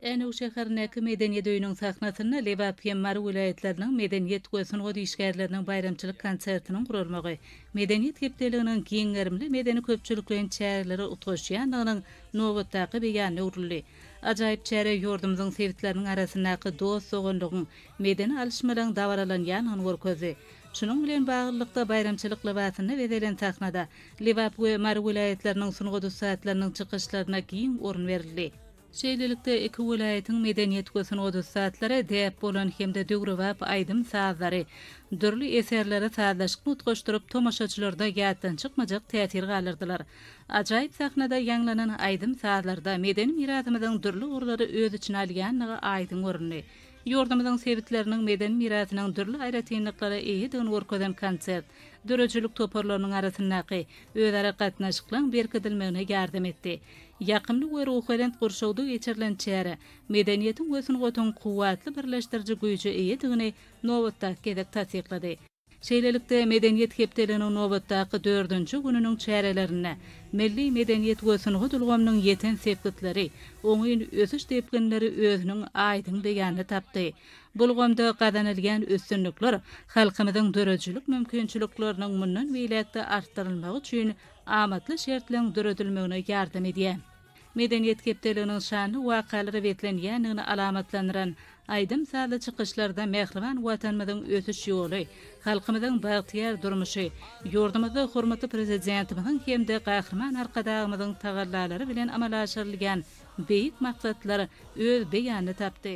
Änew şäherindäki Medeniýet öýüniň sahnasynda Lebap hem Mary welaýatlarynyň medeniýet we sungat işgärleriniň baýramçylyk konsertiniň guralmagy Medeniýet hepdeliginiň giň gerimli medeni-köpçülikleýin çäreleri utgaşýandygynyň nobatdaky beýanyna öwrüldi. Ajaýyp çäre ýurdumyzyň sebitleriniň arasyndaky dost-doganlygyň, medeni alyşmalaryň dabaralanýandygyny görkezdi. Şunuň bilen baglylykda, baýramçylyk lybasynda bezelen sahnada Lebap we Mary welaýatlarynyň sungat ussatlarynyň çykyşlaryna giň orun berildi. Şeýlelikde, iki welaýatyň medeniýet we sungat ussatlary däp bolan hem-de döwrebap aýdym-sazlary, dürli eserleri sazlaşykly utgaşdyryp, tomaşaçylarda ýatdan çykmajak täsir galdyrdylar. Ajaýyp sahnada ýaňlanan aýdym-sazlarda medeni mirasymyzyň dürli ugurlary öz içine alýandygy aýdyň göründi. Ýurdumyzyň sebitleriniň medeni mirasynyň dürli aýratynlyklara eýedigini görkezen konsert döredijilik toparlarynyň arasyndaky özara gatnaşyklaryň berkidilmegine ýardam etdi. Ýakymly we ruhubelent gurşawda geçirilen çäre medeniýetiň we sungatyň kuwwatly birleşdiriji güýje eýedigini nobatdaky gezek tassyklady. Şeýlelikde, Medeniýet hepdeliginiň nobatdaky dördünji gününiň çärelerinde milli medeniýet we sungat ulgamynyň ýeten sepgitleri, oňyn ösüş depginleri özüniň aýdyň beýanyny tapdy. Bu ulgamda gazanylýan üstünlikler halkymyzyň döredijilik mümkinçilikleriniň mundan beýläk-de artdyrylmagy üçin amatly şertleň döredilmegine ýardam edýär. Medeniýet hepdeliginiň şanly wakalara beslenýändigini alamatlandyran aýdym-sazly çykyşlarda mähriban Watanymyzyň ösüş ýoly, halkymyzyň bagtyýar durmuşy, ýurdumyzda hormatly Prezidentimiziň hem-de Gahryman Arkadagymyzyň tagallalary bilen amala aşyrylýan beýik maksatlar öz beýanyny tapdy.